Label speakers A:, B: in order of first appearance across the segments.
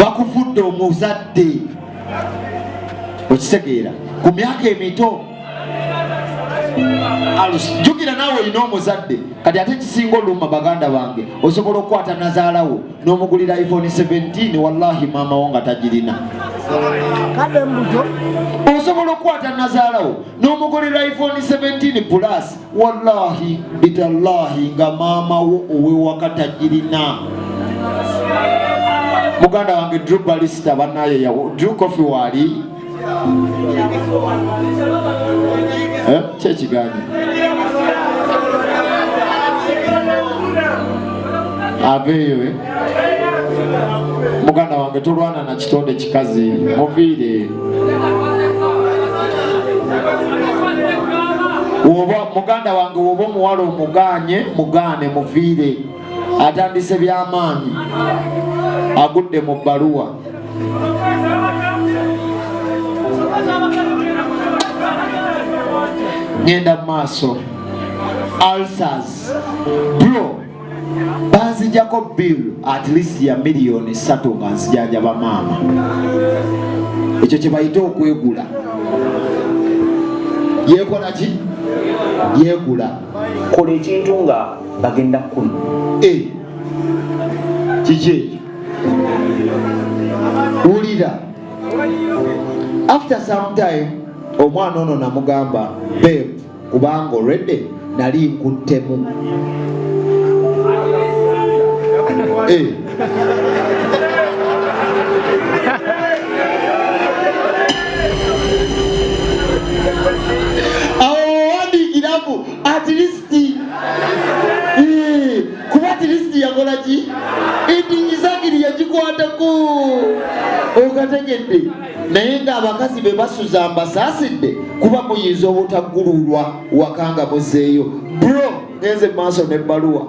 A: bakufudde omuzadde okitegeera ku myaka emito jukira naawe olina omuzadde kati ate kisinga olumma baganda bange osobola okukwata nazaalawo nomugulira iphone 17 wallahi maama wo nga tagirina osobola okukwata nazaalawo nomugulira iphone 17 plus wallahi bitallahi nga maama wo owewaka tagirina muganda wange drew balista banaye yawo drew coffee waali eh, kyekigaanye aveeyo eh? muganda wange tolwana na kitonde kikazi muviire muganda wange woba omuwala omuganye mugane muviire atandise byamaanyi agudde mu bbaluwa ngenda mu maaso ulcers bro banzijako bill at least ya miliyoni satu nga nzijanjaba maama ekyo kyebayite okwegula yekolaki yegula kola
B: ekintu nga bagenda kumi eh.
A: kiki ekyo wulira after some time omwana ono namugamba beb kubanga olwedde nali nkuttemu eh. at least kuba at least yakola ki idingizagiri yagikwatako okategedde naye ng'abakazi be basuza mbasaasidde kuba muyinza obutaggululwa wakanga muzeeyo bro ngenze maaso n'ebbaluwa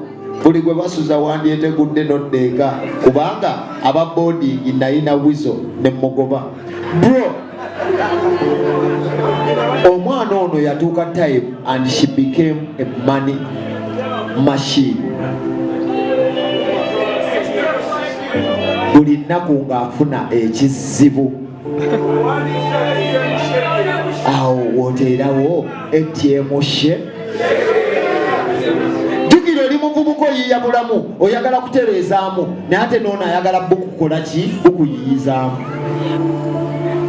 A: buli gwe basuza wandyetegudde noddeeka kubanga aba boodingi nayina wizo ne mugoba bro omwana ono yatuuka time and she became a money machine buli nnaku ng'afuna ekizibu awo woteerawo etyemushe jukira oli muvubuka oyiya bulamu oyagala kutereezaamu naye ate noono ayagala bukukola ki bukuyiyizaamu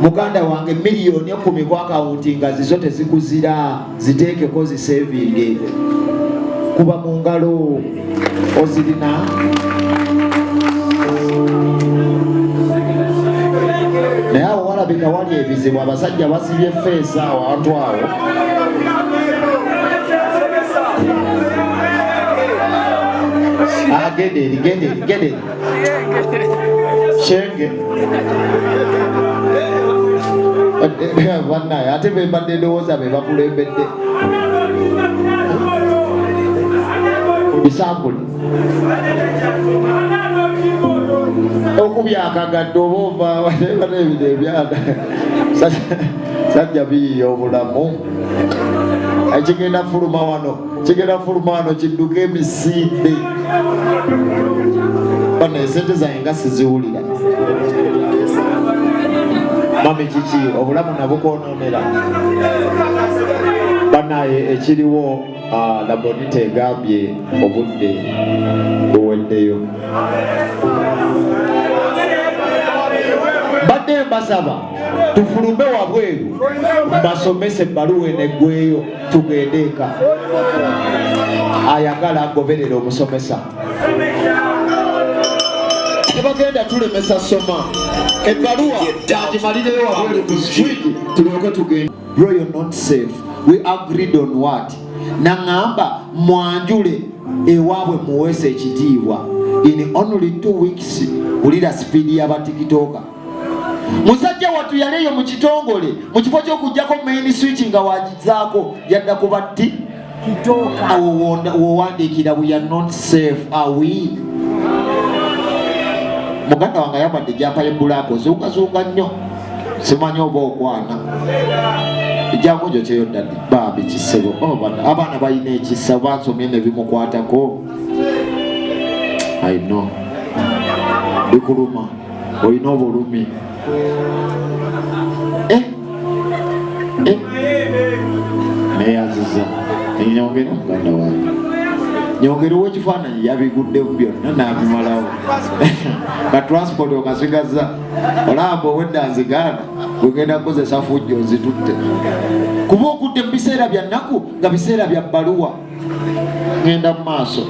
A: muganda wange miliyoni ekumi ku akawunti nga zizo tezikuzira ziteekeko zisevinge kuba mu ngalo ozirina naye awo walabika wali ebizibu abasajja basibye feesi awo antu awo agende ah, eri gende eri gende eri kyenge banaye ate bembadde ndowooza be bakulembedde bisambuli okubyakagadde oba ovaebintu ebyana sajja biyiya obulamu ekigenda fuluma wano kigenda fulumano kidduka emisinde bana esente zange nga siziwulira mami kiki obulamu nabukwononera banaye ekiriwo ah, labonita egambye obudde buweddeyo mbadde mbasaba tufulume wabweru mbasomese ebbaluwa enegweyo tugende eka ayagala agoberera omusomesa tebagenda tulemesa soma ebbaluwa agimalireyo wabweru ku street tulyoke tugende bro you're not safe we agreed on what naŋamba mwanjule ewaabwe muweesa ekitiibwa in only two weeks wulira sipiidi y'abatikitooka musajja wattu yali eyo mu kitongole mu kifo ky'okugyako main switch nga wagizaako yadda ku batti awo wowandiikira we are not safe awi muganda wange ayambadde ejampa yebulaaka ozungazunga nnyo simanyi oba okwana ejamu gyo kyeyoddadi bambi kisebo oh, abaana balina ekisa bansomye nebimukwatako i know bikuluma olina obulumi eh? Eh? neyaziza nyongera muganda wange nyongera owekifaananyi yabiguddemu byonna nabimalawo na transport okasigazza olamba owedda nzigaana wegenda kukozesa fujjo nzitutte kuba okudde mu biseera bya nnaku nga biseera bya bbaluwa ngenda mu maaso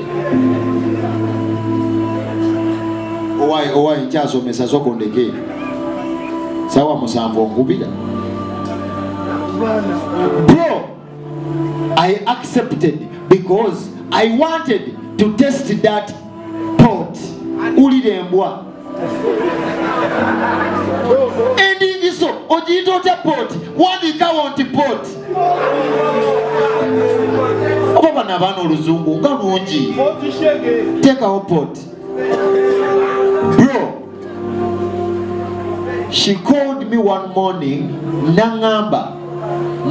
A: owaye owaye nkyasomesa soko ndeke sawa musanvu onkubira bro i accepted because i wanted to test that pot ulira embwa endingiso ogiyita otya pot wandiikawo nti pot oba bano abaana oluzungu nga lungi teekawo pot bro she called me one morning nangamba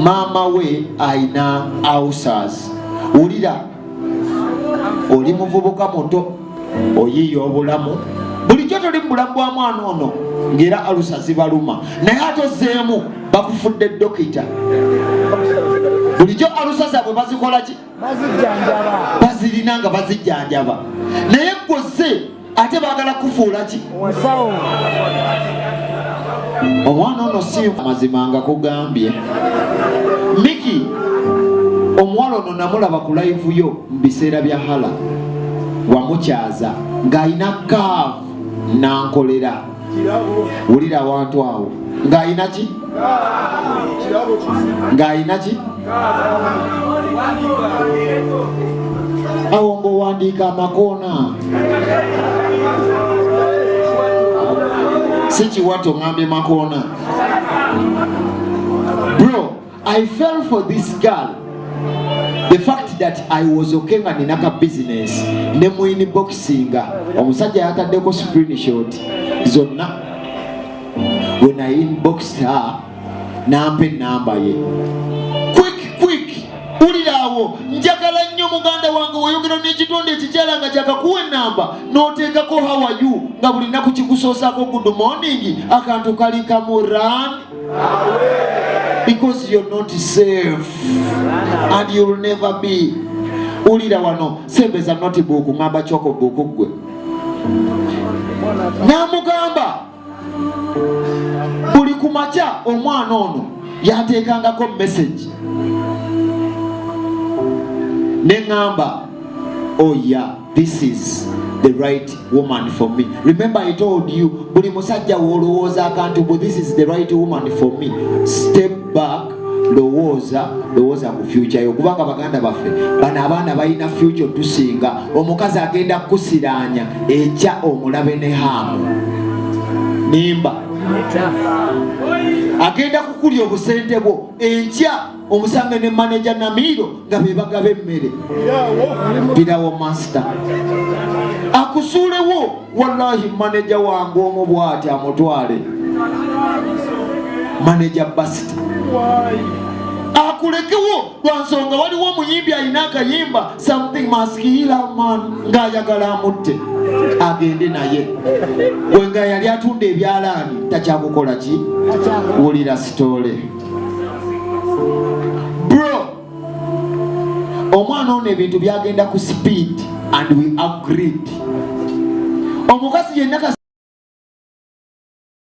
A: maama we ayina ausas wulira oli muvubuka muto oyiiya obulamu bulijjo toli mu bulamu bwa mwana ono ngaera alusa zibaluma naye ate ozeemu bakufudde dokita bulijjo alusa zaabwe bazikolaki bazirina nga bazijjanjaba naye gwoze ate bagala kufuula ki musawo omwana ono si amazima nga kugambye miki omuwala ono namulaba ku laivu yo mu biseera bya hala wamukyaza ng'alina kaavu nankolera wulira awantu awo ng'alina ki ng'alina ki awo ng'owandiika amakoona si kiwato ŋambye makoona bro I fell for this girl the fact that I was okay nga nina ka business ne mu inboxinga omusajja yataddeko screenshot zonna when I inboxed her nampa enamba ye quick quick uliraawo njagala nnyo muganda wange weyogera n'ekitonde ekikyala nga kyakakuwa enamba n'oteekako hawayu nga buli naku kikusoosako good morning akantu kali kamu run because you're not safe and you'll never be ulira wano sembeza notibuuku ngamba kyoko buuku ggwe namugamba buli ku makya omwana ono yateekangako mesagi ne ŋamba oya oh, this is the right woman for me remember i told you buli musajja wolowooza akantu bu this is the right woman for me step back lowooza lowooza ku fyuca yo kubanga baganda baffe bano abaana balina fyuca otusinga omukazi agenda kukusiraanya ekya omulabe ne haamu nimba agenda kukulya obusente bwo enkya omusambe ne maneja namiiro nga bebagaba emmere birawo masita akusuulewo wallahi maneja wange omu bwati amutwale maneja basita akulekewo lwansonga waliwo omuyimbi alina akayimba something maskilaman ngaayagala amutte agende naye gwe nga yali atunda ebyalaani takyakukola ki wulira sitole bro omwana ono ebintu byagenda ku speed and we agreed omukazi yenna